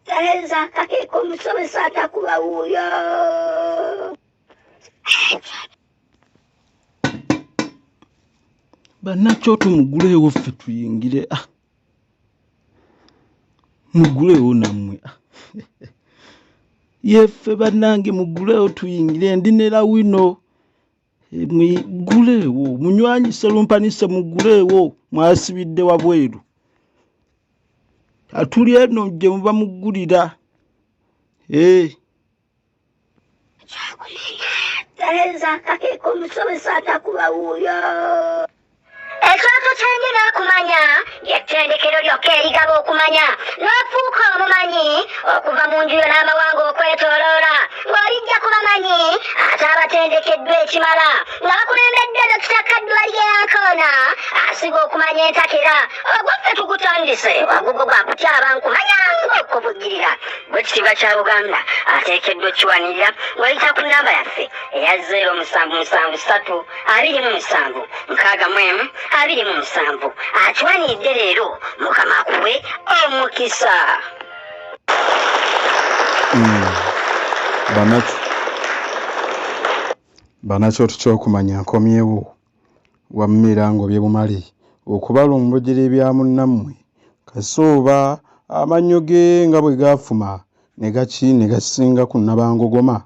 Tayeza akakeka omusomesa atakuba wuuyo banakyo tumuguleewo ffe tuyingire ah. muguleewo nammwe ah. yeffe banange muguleewo tuyingire ndi ne lawino muguleewo munywanyi serumpanise muguleewo mwasibidde wabweru atuli eno gye muba muggulira ee eh. Tayinza akakeka omusomesa atakuba wuuyo Ekyoto ky'ennyo n'okumanya ly'ettendekero lyokka erigaba okumanya n'ofuuka omumanyi okuva mu njuyo n'amawanga okwetoloola ng'olijja ku bamanyi ate abatendekeddwa ekimala nga bakulembedde dokita kaddwalye yankoona asiga okumanya entakera ogwaffe tugutandise wagugo gwa kutyaba nkumanya ng'okubugirira gw'ekitiibwa kya buganda ateekeddwa okiwanirira ng'oyita ku nnamba yaffe eya 0 musanvu musanvu satu abiri mu musanvu nkaaga mu emu abiri mu musanvu akiwanidde leero mukama akuwe omukisa hmm. banakyo tukyokumanya nkomyewo wammera ngobye bumale okubala omubujira ebya munnammwe kasooba amannyo ge nga bwe gaafuma ne gaki ne gasinga ku nabangogoma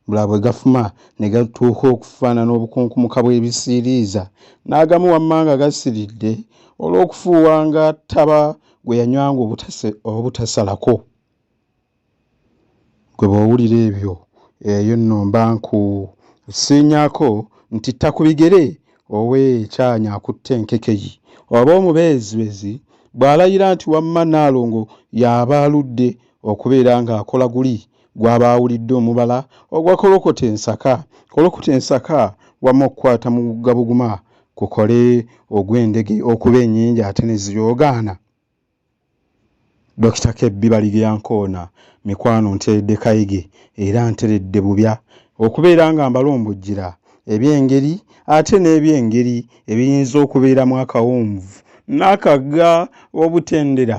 bula bwe gafuma ne gatuuka okufaanana obukunkumuka bw'ebisiiriiza n'agamu wammanga gasiridde olw'okufuuwa nga taba gwe yanywanga obutasalako gwe bw'owulira ebyo eyo nno mba nkusiinyako nti tta ku bigere owe ekyanya akutte enkekeyi oba omubeezibeezi bw'alayira nti wamma nnaalongo y'aba aludde okubeera ng'akola guli gwaba awulidde omubala ogwa kolokota ensaka kolokota ensaka wama okukwata mu gabuguma kukole ogw'endege okuba enyingi ate neziyoogaana dokita kebbi baligeyankoona mikwano nteredde kayige era nteredde bubya okubeera nga mbalombojjira ebyengeri ate n'ebyengeri ebiyinza okubeeramu akawunvu n'akagga obutendera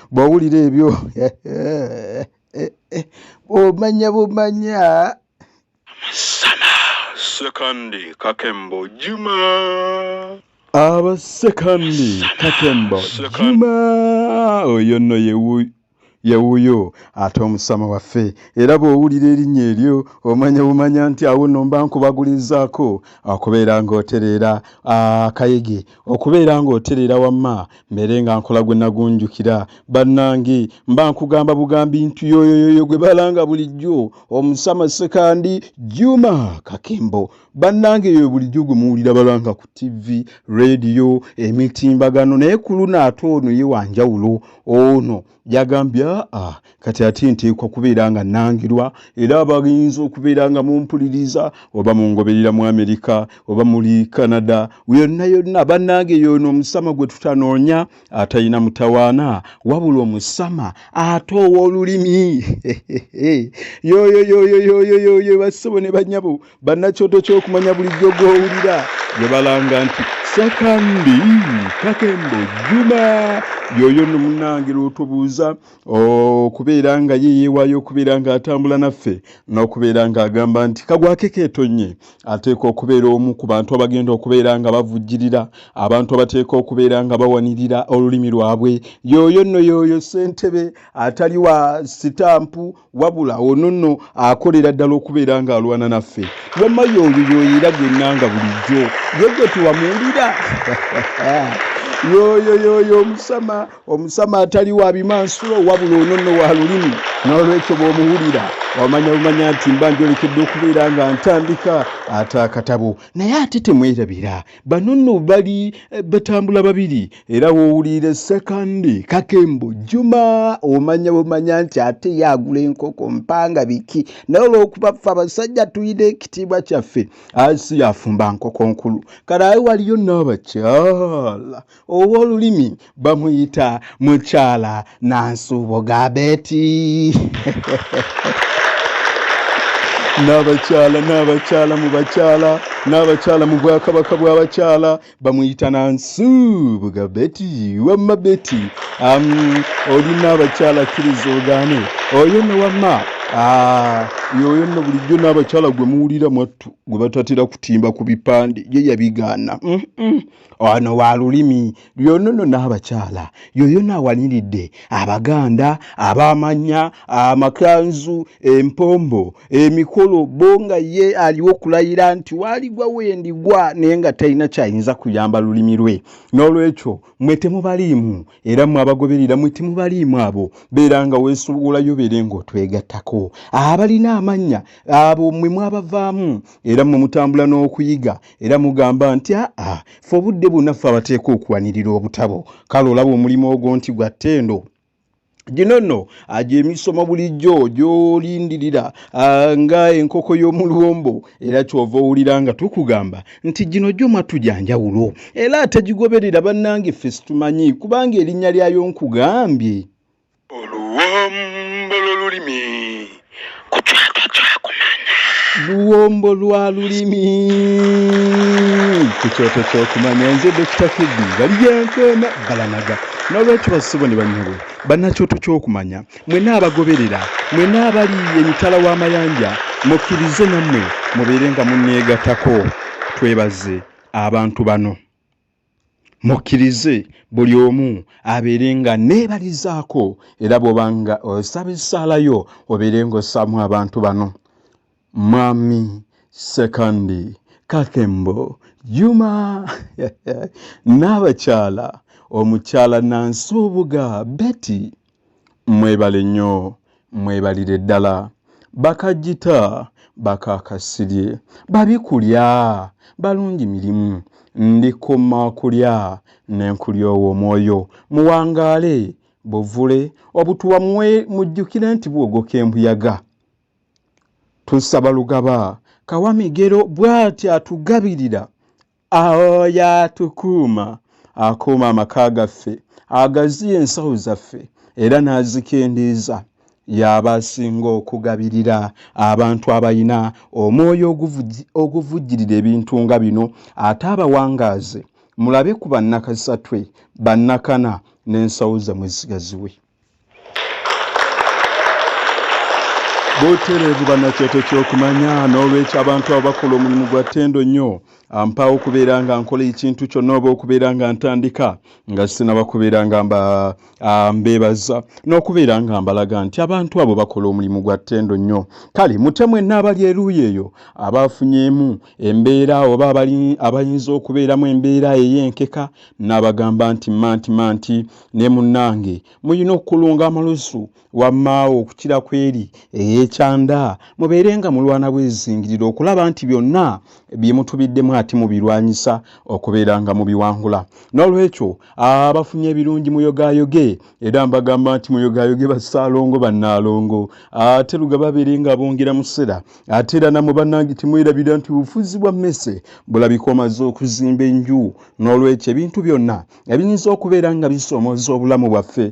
bw'owulira ebyo bw'omanya bumanya amasana sekandi kakembo juma aba sekandi kakembo juma oyo nno yewuyo yewuyo ate omusama waffe era bw'owulira erinnya eryo omanya bumanya nti awo nno mba nkubagulizaako okubeera ng'otereera akayege okubeera ng'otereera wamma mbeere nga nkola gwe nagunjukira bannange mba nkugamba bugambi nti yoyoyoyo gwe balanga bulijjo omusama sekandi juma kakembo bannange yoyo bulijjo gwe muwulira balanga ku tivi rediyo emitimbagano naye ku luno ate ono ye wanjawulo ono oh, yagambye aa kati ati nteekwa kubeera nga nangirwa era abayinza okubeera nga mumpuliriza oba mungoberera mu amerika oba muli canada yonna yonna bannange yoono omusama gwe tutanoonya atalina mutawaana wabula omusama ate ow'olulimi yoyoyoyoyoyoyo bassebo ne banyabo bannakyoto ky'okumanya bulijjo gw'owulira gye balanga nti sakandi kakembo juma yoyo no munange lwotubuuza okubeera nga ye yeewaayo okubeera ng'atambula naffe n'okubeera ng'agamba nti kagwake keetonye ateeka okubeera omu ku bantu abagenda okubeera nga bavujjirira abantu abateeka okubeera nga bawanirira olulimi lwabwe yoyo nno yoyo ssentebe atali wa sitampu wabula ono nno akolera ddala okubeera ng'alwana naffe wamma yoyo yoyera gwennanga bulijjo ye gwe tewamuwulira yoyo yoyo omusama omusama atali wa bimansulo wabula ono nno wa lulimi n'olwekyo bw'omuwulira omanya bumanya nti mba njolekedde okubeera nga ntandika ate akatabo naye ate temwerabira bano nno bali eh, batambula babiri era wowulire sekandi kakembo juma omanya bumanya nti ate yagula enkoko mpanga biki naye olwokuba ffe abasajja tulina ekitiibwa kyaffe asi yafumba nkoko nkulu kale aye waliyo n'abakyala ow'olulimi bamuyita mukyala nansuubo gabeti n'abakyala n'abakyala mu bakyala n'abakyala mu bwakabaka bw'abakyala bamuyita nansuubuga beti wamma beti um, olina abakyala kkiriza ogaane oyo ne wamma ah, yoyo nno bulijjo n'abakyala gwe muwulira mwattu gwe batatera kutimba ku bipande ye yabigaana mm -mm. wano wa lulimi lyonono n'abakyala yoyona awaniridde abaganda abamanya amakanzu empombo emikolo bo nga ye aliwo okulayira nti waligwa wendigwa naye nga talina kyayinza kuyamba lulimi lwe n'olwekyo mwe temubaliimu era mwe abagoberera mwe temubaliimu abo beera nga weesowolayo beere ng'otwegattako abalina amannya abo mwe mwabavaamu era mwe mutambula n'okuyiga era mugamba nti aa fe obudde bwonna ffe abateeka okuwanirira obutabo kale olaba omulimu ogwo nti gwa ttendo gino nno agyemisomo bulijjo gyolindirira nga enkoko y'omuluwombo era kyova owulira nga tukugamba nti gino gyo mwattu gya njawulo era atagigoberera bannange ffe situmanyi kubanga erinnya lyayo nkugambye oluwombo lwolulimi kucwaka kyakumanya luwombo lwa lulimi ku kyoto kyokumanya nze dokita kedi bali byankoona balanaga n'olwekyo basibo ne banyabo bannakyoto kyokumanya Mwena abagoberera, mwena abali emitala w'amayanja, mukkirize nammwe mubeere nga munneegatako. Twebaze abantu bano. Mukkirize buli omu abeere nga neebalizaako era bw'oba nga osaba essaala yo obeere ng'ossaamu abantu bano. Mwami Sekandi Kakembo Juma n'abakyala omukyala Nansuubuga Betty mwebale nnyo mwebalire ddala bakajjita bakakasirye babi kulya balungi mirimu ndikuma kulya nenkulyowa omwoyo muwangaale buvule obutuwa mujjukire nti bwogoka embuyaga tusaba lugaba kawamigero bw'ati atugabirira oyo atukuuma akuuma amaka gaffe agaziya ensawo zaffe era n'azikendeeza y'aba asinga okugabirira abantu abalina omwoyo oguvujjirira ebintu nga bino ate abawangaaze mulabe ku bannakasatwe bannakana n'ensawo zamwe zigaziwe butereevu banakyete kyokumanya n'olwekyo abantu abo bakola omulimu gwa ttendo nnyo ampaawo okubeera nga nkola ekintu kyonna oba okubeera nga ntandika nga sinaba kubeera nga mbeebaza n'okubeera nga mbalaga nti abantu abo bakola omulimu gwa ttendo nnyo kale mutemwe naabali eruuyi eyo abaafunyemu embeera oba abayinza okubeeramu embeera ey'enkeka n'abagamba nti manti manti ne munnange mulina okukulunga amalusu wammaawo okukira ku eri ey'ekyanda mubeere nga mulwana bwezingirira okulaba nti byonna bye mutubiddemu ate mubirwanyisa okubeera nga mubiwangula n'olwekyo abafunye ebirungi muyogayoge era mbagamba nti muyogayoge basaalongo bannaalongo ate luga babeere nga bongera musera ate era namwe bannange temwerabira nti bufuzi bwa mmese bulabika omaze okuzimba enju n'olwekyo ebintu byonna ebiyinza okubeera nga bisoomoza obulamu bwaffe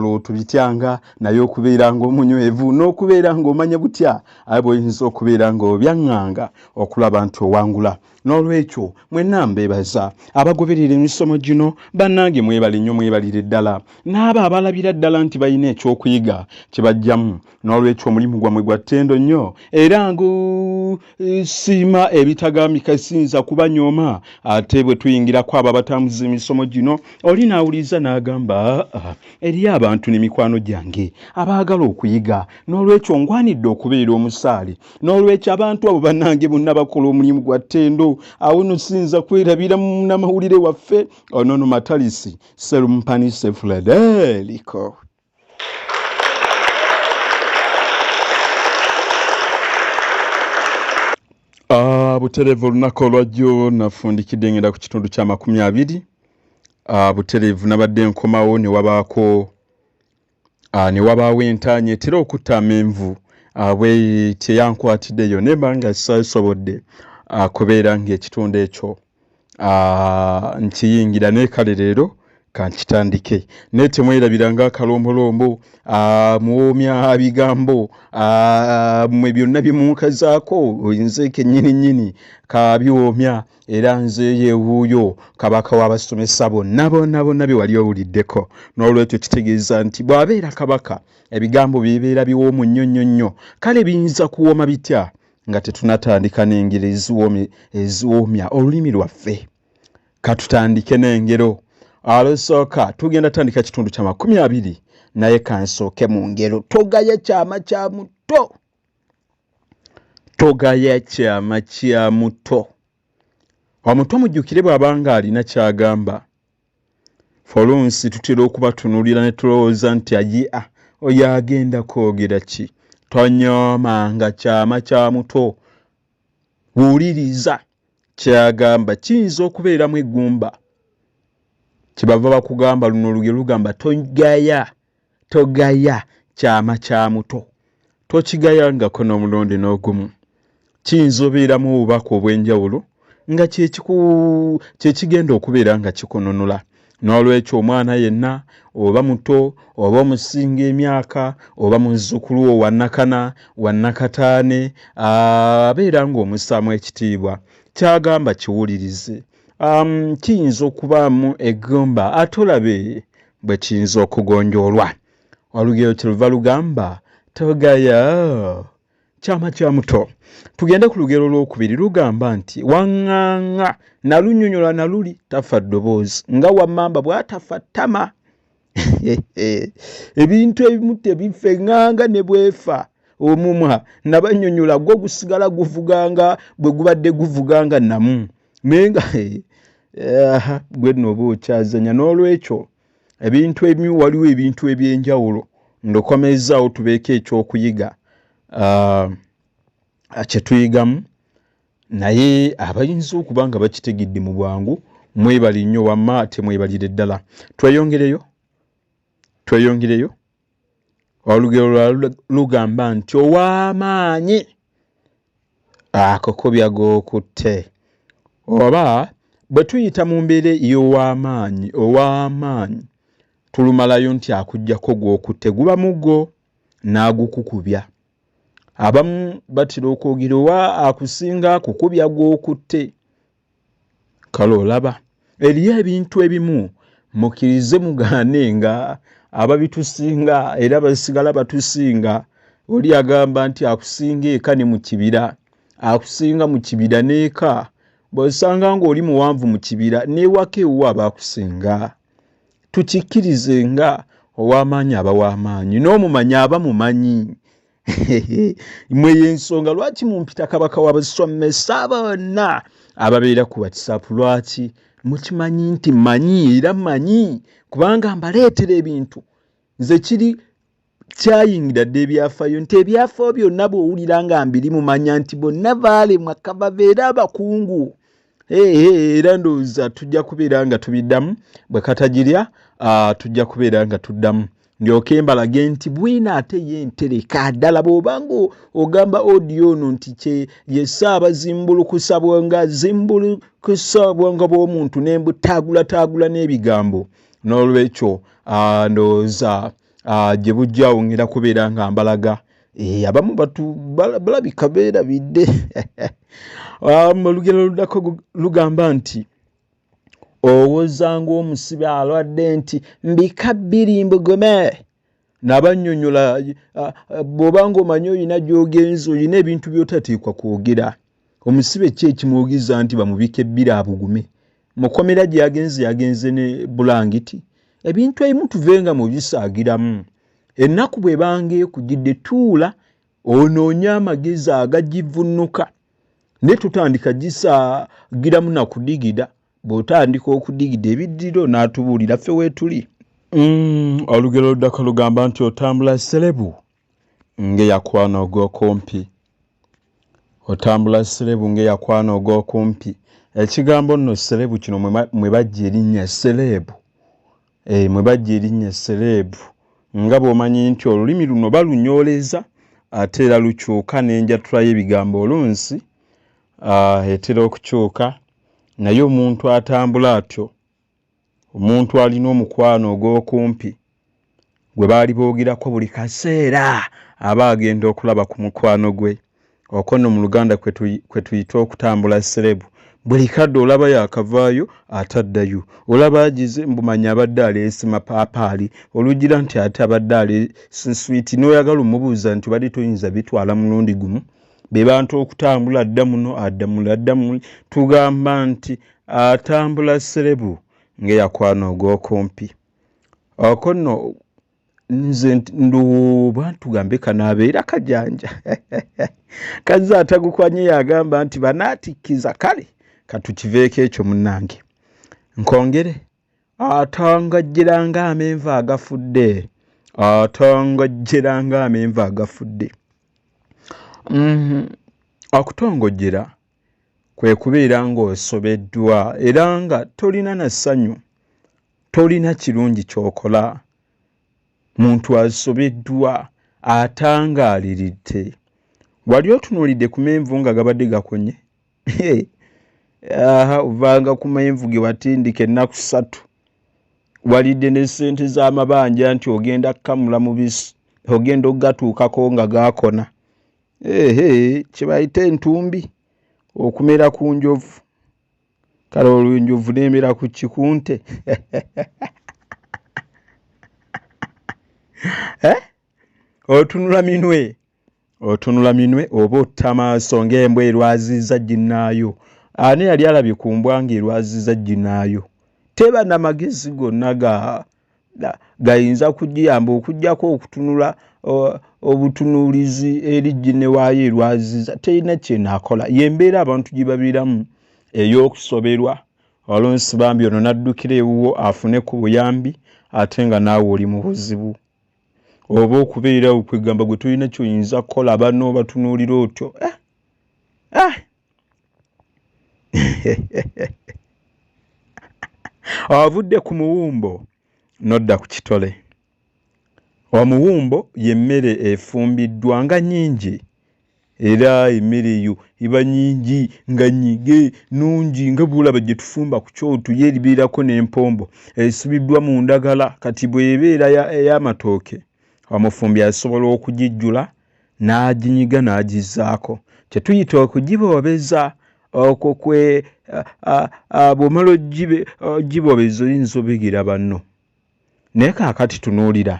lwo tubityanga naye okubeera ngaomunywevu n'okubeera ngaomanya butya aye bwoyinza okubeera nga obyaŋŋanga okulaba nti owangula n'olwekyo mwenna mbeebaza abagoberera emisomo gino bannange mwebale nnyo mwebalire ddala n'abo abalabira ddala nti balina ekyokuyiga kye bajjamu n'olwekyo omulimu gwammwe gwa ttendo nnyo era ngu nsiima ebitagambika siyinza kubanyooma ate bwe tuyingirako abo abatambuza emisomo gino oli n'awuliriza n'agamba ah, eriyo abantu ne mikwano gyange abaagala okuyiga n'olwekyo ngwanidde okubeera omusaale n'olwekyo abantu abo bannange bonna bakola omulimu gwa ttendo awo no siyinza kwerabira munamawulire waffe onono matalisi serumpani sefuladee liko butereevu olunaku olwajjo nafundikidde ngenda ku kitundu kya makumi abiri ah, butereevu nabadde nkomawo newabaako ah, newabaawo entaanya etera okutta amenvu ah, bwe teyankwatiddeyo nemba nga sisobodde kubeera ngaekitundu ekyo ah, nkiyingira naye kale leero kankitandike naye temwerabira nga akalombolombo ah, muwoomya bigambo ah, mwe byonna byemunkazaako nze kenyini nyini kabiwoomya era nze yewuuyo kabaka w'abasomesa bonna bonna bonna bye wali owuliddeko n'olwekyo kitegeeza nti bw'abeera kabaka ebigambo byebeera biwoomu nnyo nnyo nnyo kale biyinza kuwooma bitya nga tetunatandika n'engero eziwoomya olulimi lwaffe katutandike n'engero alusooka tugenda tandika kitundu kya makumi abiri naye kansooke mu ngero togaye kyama kya muto togaya kyama kya muto omuto mujjukire bw'abanga alina ky'agamba folunsi tutera okubatunulira ne tulowooza nti ajia oyo agenda kwogera ki tonyooma nga kyama kya muto wuliriza kyagamba kiyinza okubeeramu eggumba kyebava bakugamba luno luge lugamba togaya togaya kyama kya muto tokigayangako n'omulundi n'ogumu kiyinza obeera mu bubaka obw'enjawulo nga kyekigenda okubeera nga kikununula n'olwekyo omwana yenna oba muto oba omusinga emyaka oba muzzukulu wo wannakana wannakataane abeera ng'omusaamu ekitiibwa kyagamba kiwulirize kiyinza okubaamu egomba ate olabe bwe kiyinza okugonjoolwa olugero kyeluva lugamba togaya kyama kya muto tugende ku lugero olwokubiri lugamba nti waŋŋaŋŋa nalunyonyola na luli tafa ddoboozi nga wammamba bw'atafa ttama ebintu ebimu tebifa eŋŋanga ne bwefa omumwa nabanyonyola gwo gusigala guvuganga bwe gubadde guvuganga namu naye nga eh, gwe nno oba okyazanya n'olwekyo ebintu ebimu waliwo ebintu ebyenjawulo ndokomezzaawo tubeeko ekyokuyiga ah, kyetuyigamu naye abayinza okuba nga bakitegedde mu bwangu mwebali nnyo wamma ate mwebalire ddala tweyongereyo tweyongereyo olugero lwa lugamba nti ow'amaanyi akokobya g'okutte oba bwe tuyita mu mbeera ey'ow'amaanyi ow'amaanyi tulumalayo nti akugyako gw'okutte guba muggo n'agukukubya abamu batera okwogera owa akusinga akukubya gw'okutte kale olaba eriyo ebintu ebimu mukirize mugaane nga ababitusinga era basigala batusinga oli agamba nti akusinga eka ne mu kibira akusinga mu kibira n'eka bwosanga ng'oli muwanvu mu kibira n'ewaka ewuwo abaakusinga tukikkirize nga ow'amaanyi aba w'amaanyi n'omumanyi aba mumanyi mwe yensonga lwaki mumpita kabaka wabaswamme saaba bonna ababeera ku whatsapp lwaki mukimanyi nti manyi era manyi kubanga mbaleetera ebintu nze kiri kyayingira dde ebyafayo nti ebyafayo byonna bwowulira nga mbiri mumanya nti bonna baalemwa kababeera abakungu era ndowooza tujja kubeera nga tubiddamu bwe katagirya ah, tujja kubeera nga tuddamu ndyoke mbalage nti bwina ate ye ntereka ddala bw'obanga ogamba odiyo ono nti kye yesse abazimbulukusa bwonga zimbulukusa obwongo bw'omuntu ne mbutaagulataagula n'ebigambo n'olwekyo ah, ndowooza ah, gye bujja awo ngenda kubeera nga mbalaga eh, abamu batu balabika beerabidde ah, olugero luddako lugamba nti owoza ng'omusibe alwadde nti mbika bbiri mbugome nabanyonyola bwoba nga omanyi olina gyogenza olina ebintu byotateekwa kwogera omusibe ki ekimuwugiza nti bamubika ebbiri abugume mukomera gye yagenze yagenze ne bulangiti ebintu ebimu tuvenga mu bisaagiramu ennaku bwe banga ekugidde tuula onoonye amagezi agagivunnuka ne tutandika gisaagiramu na kudigida bw'otandika okudigida ebiddira onaatubuulira ffe weetuli mm, olugero luddako lugamba nti otambula serebu ng'eyakwana ogw'okumpi otambula serebu ng'eyakwana og'okumpi ekigambo nno serebu kino mwe bajja erinnya serebu eh, mwe bajja erinnya serebu nga bw'omanyi nti olulimi luno balunyooleza ate era lukyuka n'enjatula y'ebigambo olunsi ah, etera okukyuka naye omuntu atambula atyo omuntu alina omukwano ogw'okumpi gwe baali boogerako buli kaseera aba agenda okulaba ku mukwano gwe oko no mu luganda kwe tuyita okutambula serebu buli kadde olaba yakavaayo ate addayo olaba agize mbumanya abadde aleese mapaapaali olugira nti ate abadde aleese nswiti n'oyagala omubuuza nti obadde toyinza bitwala mulundi gumu bebantu okutambula adda muno adda muli adda muli tugamba nti atambula serebu ngeyakwana ogwokumpi oko no nze nduba tugambe kanabeera kajanja kazze atagukwanye yagamba nti banatikkiza kale katukiveeko ekyo munange nkwongere atangajjera ng'amenvu agafudde atangajjera ng'amenvu agafudde mhm. akutongojjera kwe kubeera ng'osobeddwa era nga tolina na ssanyu tolina kirungi ky'okola muntu asobeddwa atangaaliridde wali otunuulidde ku menvu nga gabadde gakonye aha ovanga ku menvu ge watindika ennaku ssatu walidde ne ssente z'amabanja nti ogenda kukamula mubisi ogenda okugatuukako nga gaakona ehe kyebayita entumbi okumera ku njovu kale olwo enjovu n'emera ku kikunte eh? otunula minwe otunula minwe oba otta maaso ng'embwa erwaziza ginnaayo ani yali alabye ku mbwa ng'erwaziza ginnaayo teba na magezi gonna ga gayinza kugiyamba okugyako okutunula obutunuulizi eri ginne waayo erwaziza terina kyenaakola yembeera abantu gye babeeramu ey'okusoberwa olunsi bambi ono n'addukira ewuwo afune ku buyambi ate nga naawe oli mu buzibu oba okubeerawo kwegamba gwe tolina kyoyinza kukola bano batunuulira otyo eh, eh. avudde ku muwumbo nodda ku kitole omuwumbo yemmere efumbiddwa nga nyingi era emmere eyo eba nyingi nga nyige nungi nga bwolaba gye tufumba ku kyoto ye eribeerako n'empombo esibiddwa mu ndagala kati bw'ebeera ey'amatooke omufumbi asobola okugijjula n'aginyiga n'agizzaako kye tuyita okugiboobeza okwo kwe bw'omala ogibobeza oyinza obegera banno naye kaakati tunuulira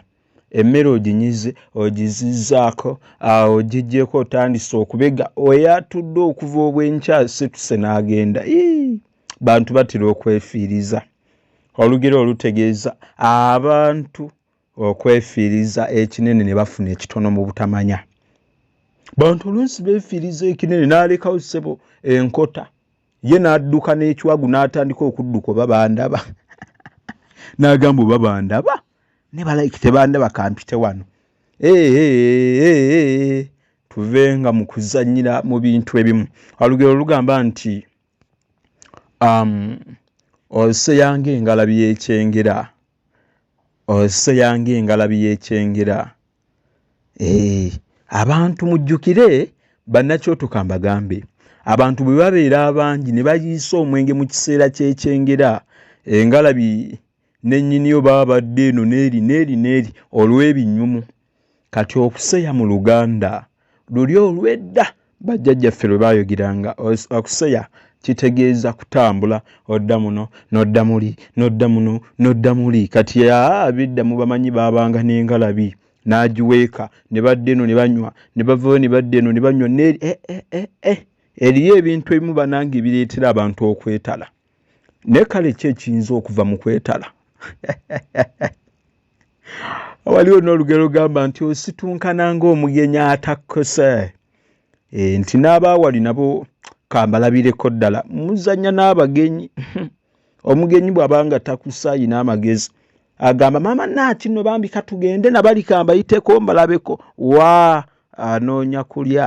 emmere oginyize ogizizaako awo ogigyeko otandise okubega oyatudde okuva obwenkya situse n'agenda bantu batera okwefiiriza olugero olutegeeza abantu okwefiiriza ekinene ne bafuna ekitono mu butamanya bantu oluusi beefiiriza ekinene n'alekawo ssebo enkota ye n'adduka n'ekiwagu n'atandika okudduka oba bandaba n'agamba oba bandaba ne balayiki tebandaba kampite wano tuve nga mu kuzannyira mu bintu ebimu olugero lugamba nti um, oseyanga engalabi y'ekyengera oseyanga engalabi y'ekyengera eh, abantu mujjukire bannakyotoka mbagambe abantu bwe babeera abangi ne bayiisa omwenge mu kiseera ky'ekyengera engalabi nennyiniyo baba badde eno neeri neeri neeri olw'ebinyumu kati okuseya mu luganda luli olwedda bajjajjaffe lwe baayogeranga okuseya kitegeeza kutambula odda muno nodda muli nodda muno nodda muli kati abidda mu bamanyi baabanga n'engalabi n'agiweeka ne badda eno ne banywa ne bavayo ne badda eno ne banywa neri eh, eh, eh, eriyo ebintu ebimu banange ebireetera abantu okwetala naye kale ki ekiyinza okuva mu kwetala waliwo n'olugero gamba nti ositunkana ng'omugenyi atakkose eh, nti n'abaawali nabo kambalabireko ddala muzanya n'abagenyi omugenyi bw'abanga takusaayi n'amagezi agamba maama naakino bambi katugende nabali kambayiteko mbalabeko wa anoonya kulya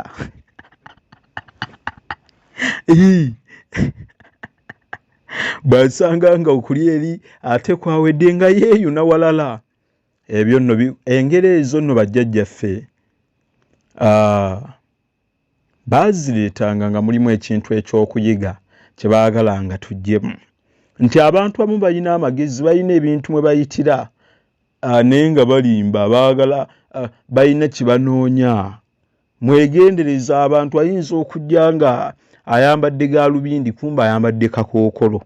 bwasanga nga okulya eri ate kwawedde nga yeeyo nawalala ebyo nno engeri ezo nno bajjajjaffe baazireetanga nga mulimu ekintu eky'okuyiga kye baagala nga tuggyemu nti abantu abamu balina amagezi balina ebintu mwe bayitira ah, naye nga balimba baagala ah, balina kyebanoonya mwegendereza abantu ayinza okujja nga ayambadde galubindi kumba ayambadde kakookolo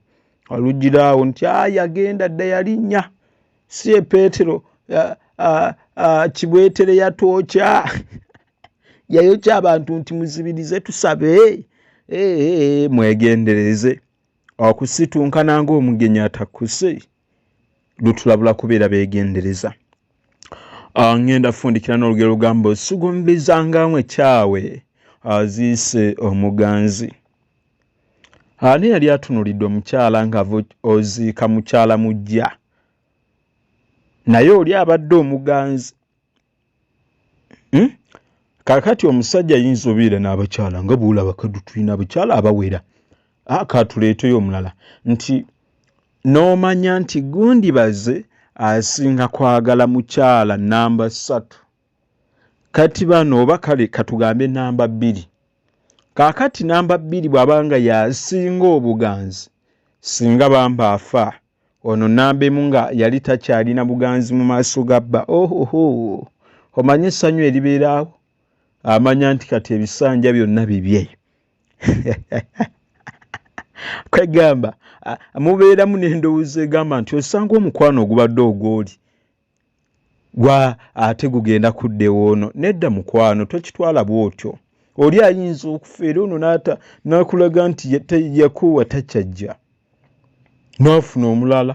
alugira awo nti ayagenda dda yalinnya si ye peetero kibwetere yatwokya yayokya abantu nti muzibirize tusabe mwegendereze okusitunkana ngaomugenyi atakuse lutulabula kubeera beegendereza ah, ŋŋenda kufundikira n'olugero lugamba osugumbizangamu ekyawe aziise omuganzi ani yali atunulidde omukyala nga oziika mukyala mujja naye oli abadde omuganzi hmm? kakati omusajja yinza obeera n'abakyala nga bwolaba kadu tulina abakyala abawera ah, katuleeteyo omulala nti n'omanya nti gundi baze asinga kwagala mukyala namba ssatu kati bano oba kale katugambe namba bbiri kakati namba bbiri bw'abanga yasinga obuganzi singa bamba afaa ono nambemu nga yali takyalina buganzi mu maaso ga bba ohoho omanye essanyu eribeeraawo amanya nti kati ebisanja byonna bibye kwegamba mubeeramu n'endowooza egamba nti osanga omukwano ogubadde ogwoli gwa ate gugenda kuddewo ono nedda mukwano tokitwala bwotyo oli ayinza okufa era ono naata nakulaga nti yakuwa takyajja nofuna omulala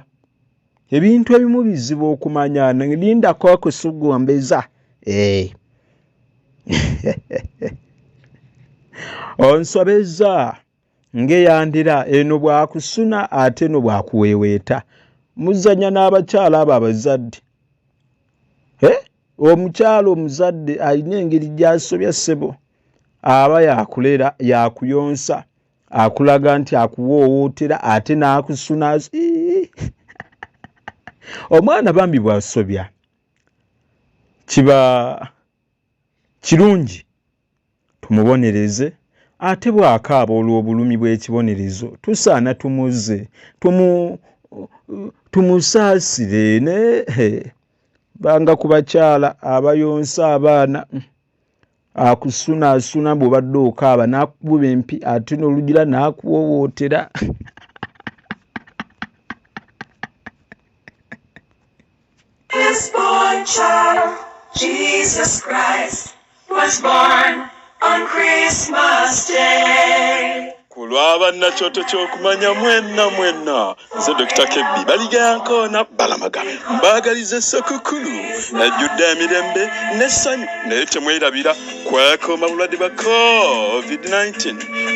ebintu ebimu bizibu okumanya lindako akusugombeza eh. onsobeza ng'eyandira eno bwakusuna ate no bwakuweeweeta muzanya n'abakyala abo abazadde eh? omukyala omuzadde alina engeri gyasobya ssebo aba yakulera yakuyonsa akulaga nti akuwoowootera ate n'akusuna omwana bambi bwasobya kiba kirungi tumubonereze, ate bw'akaaba olw'obulumi bw'ekibonerezo tusaana tumuzze, tumu, tumusaasire ne banga ku bakyala abayonsa abaana akusunaasuna bw'obadde okaaba n'akukuba empi ate n'olugira n'akuwoowootera This born child, Jesus Christ, was born on Christmas Day. ku lw'abannakyoto ky'okumanya mwenna mwenna nze dokita kebbi baligankoona balamaga mbaagaliza essekukkulu ejjudde emirembe n'essanyu naye temwerabira kwekooma bulwadde bwa covid-19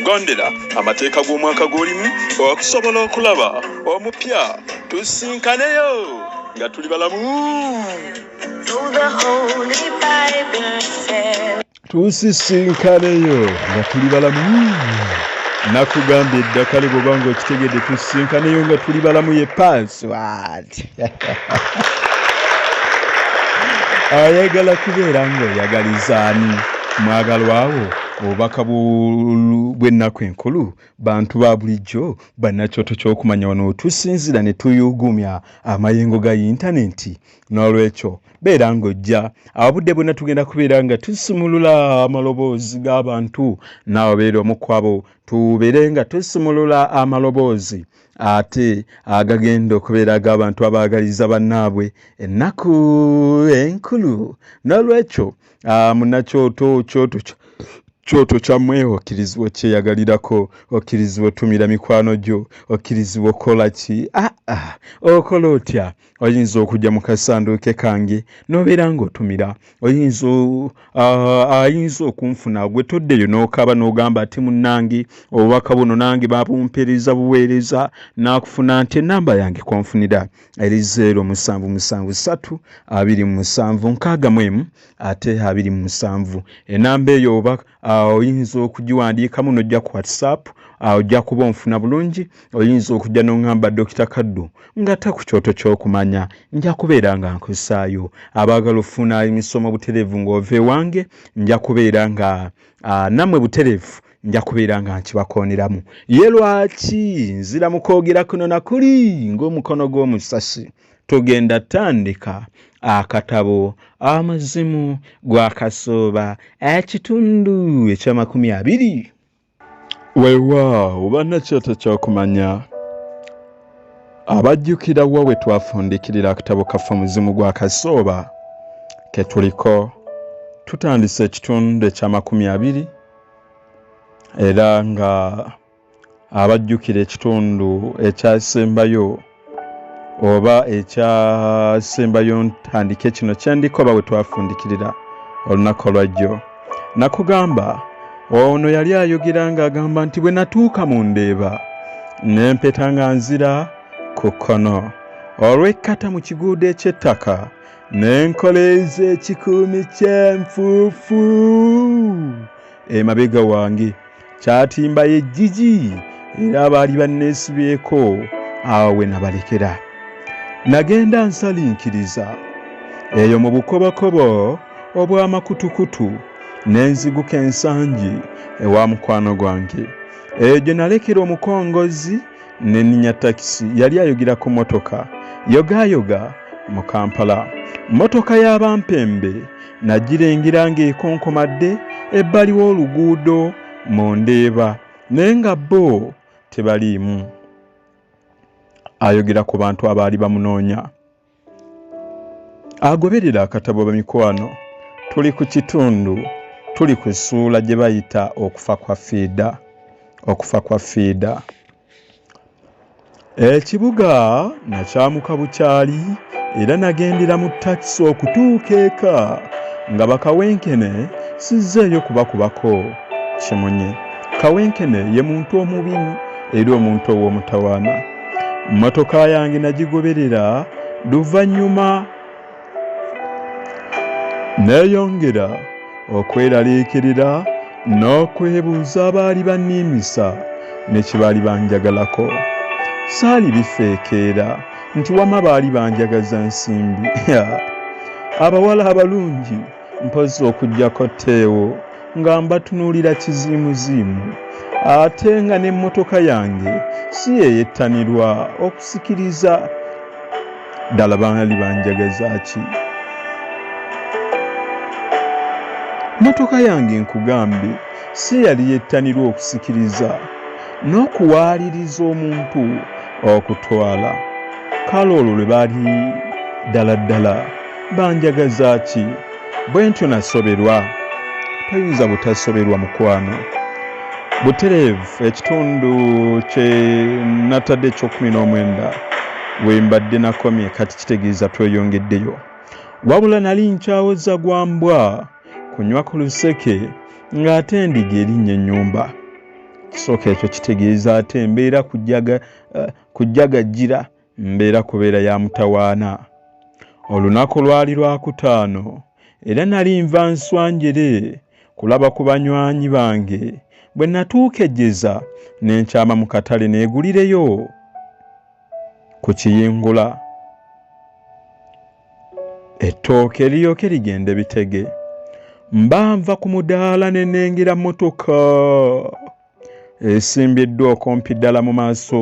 gondera amateeka g'omwaka gw'olimu okusobola okulaba omupya tusinkaneyo nga tuli balamu tusisinkaneyo nga tuli balamu nakugambye eddakale bwoba nga okitegedde tusisinkaneyo nga tuli balamu ye password ayagala kubeera ng'oyagalizaani mwagalwawo obubaka bw'ennaku enkulu bantu ba bulijjo bannakyoto ky'okumanya wano wetusinzira ne tuyuugumya amayengo ga yintanenti n'olwekyo beera ng'ojja abudde bwonna tugenda kubeera nga tusumulula amaloboozi g'abantu naawe beera omu kwabo tubeere nga tusumulula amaloboozi ate agagenda okubeera ag'abantu abaagaliza bannaabwe ennaku enkulu n'olwekyo Ah, munakyoto kyoto kyoto kyamwe okkirizibwa okyeyagalirako okkirizibwa otumira mikwano gyo okkirizibwa okukola ki aa ah, ah, okola otya oyinza okujja mu kasanduuke kange nobeera ngaotumira oyinza ayinza okunfuna gwe toddeyo nokaba nogamba ati munange obubaka buno nange babumpereza buweereza nakufuna nti enamba yange konfunira eri zeero musanvu musanvu satu abiri mu musanvu nkaaga mu emu ate abiri mu musanvu enamba eyo oba oyinza okugiwandiikamu nojja ku whatsapp ojja kuba onfuna bulungi oyinza okujja noŋamba dokita kaddu ngate ku kyoto kyokumanya nja kubeera nga nkusaayo abaagala okufuna emisomo butereevu ngaova ewange nja kubeera nga namwe butereevu nja kubeera nga nkibakooneramu ye lwaki nzira mu kwogera kuno na kuli ng'omukono gw'omusasi tugenda tandika akatabo amazimu gwakasooba ekitundu ekyamakumi abiri weewaawo bannakyoto kyokumanya abajjukira wa we twafundikirira akatabo kaffe omuzimu gwa kasooba ke tuliko tutandise ekitundu ekyamakumi abiri era nga abajjukira ekitundu ekyasembayo oba ekyasembayo ntandike kino kyendikoba we twafundikirira olunaku olwajjo nakugamba ono yali ayogera ng'agamba nti bwe natuuka mu ndeeba ne mpeta nga nzira ku kkono olw'ekkata mu kiguudo eky'ettaka n'enkola ez'ekikuumi ky'enfuufu emabega wange kyatimba yejjiji era abaali banneesibyeko awo we nabalekera nagenda nsalinkiriza eyo mu bukobokobo obw'amakutukutu ne nziguka ensangi ewa mukwano gwange eyo gye nalekera omukongozzi ne ninya takisi yali ayogera ku motoka yogaayoga mu kampala motoka y'abampembe nagirengera ng'ekonkomadde ebbali w'oluguudo mu ndeeba naye nga bo tebaliimu ayogera ku bantu abaali bamunoonya agoberera akatabo bamikwano tuli ku kitundu tuli ku ssuula gye bayita okufa kwa fiida okufa kwa fiida ekibuga nakyamuka bukyali era nagendera mu takisi okutuuka eka nga bakawenkene sizzeeyo kubakubako kimunye kawenkene ye muntu omubi era omuntu ow'omutawaana mmotoka yange nagigoberera luvannyuma neeyongera okweraliikirira n'okwebuuza abaali banniimisa ne kye baali banjagalako saali bifeekeera nti wama baali banjagaza nsimbi abawala abalungi mpozzi okujjako teewo nga mbatunuulira kiziimuziimu ate nga n'emmotoka yange si yeyettanirwa okusikiriza ddala baali banjagaza ki mmotoka yange nkugambye si yali yettanirwa okusikiriza n'okuwaaliriza omuntu okutwala kale olwo lwe baali ddala ddala banjagaza ki bwe ntyo nasoberwa toyinza butasoberwa mukwano butereevu ekitundu kye natadde ekyokumi n'omwenda we mbadde nakomye kati kitegeeza tweyongeddeyo wabula nali nkyawoza gwa mbwa kunywa ku luseke ng'ate endiga erinnya ennyumba kisooka ekyo kitegeeza ate mbeera kujagajjira eh, uh, mbeera kubeera ya mutawaana olunaku lwali lwakutaano era nali nva nswanjere kulaba ku banywanyi bange bwe natuuka ejjeza ne nkyama mu katale neegulireyo ku kiyingula ettooke eriyooke rigenda ebitege mba nva ku mudaala ne nengera mmotoka esimbiddwa okumpi ddala mu maaso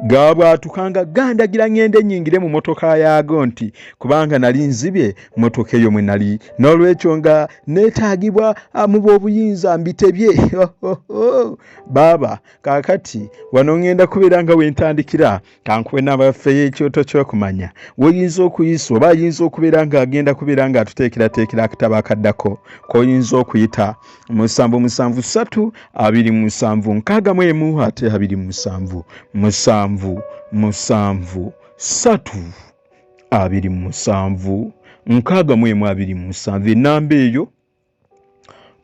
gaabwatuka nga gandagira ng'enda ennyingire mu motoka yaago nti kubanga nali nzibye motoka eyo mwe nali n'olwekyo nga neetaagibwa ah, mu b'obuyinza mbitebye baaba kaakati wano ng'enda kubeera nga wentandikira kankuwe n'abafeyo ekyoto ky'okumanya woyinza okuyisa oba ayinza okubeera ng'agenda kubeera ng'atuteekerateekera akatabo akaddako k'oyinza okuyita musanvu musanvu satu abiri musanvu nkaaga mu emu ate abiri musanvu musanvu musanvu satu abiri musanvu nkaaga mu emu abiri musanvu enamba eyo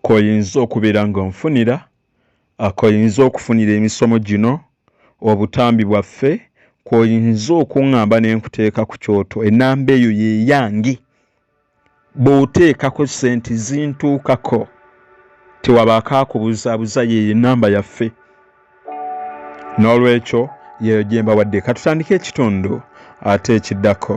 koyinza okubeera nga onfunira akoyinza okufunira emisomo gino obutambi bwaffe kwoyinza okuŋŋamba ne nkuteeka ku kyoto enamba eyo yeyange bw'oteekako ssente zintuukako tewabaako akubuzaabuza yeeyo enamba yaffe n'olwekyo yeeyo gye mbawadde katutandika ekitundu ate ekiddako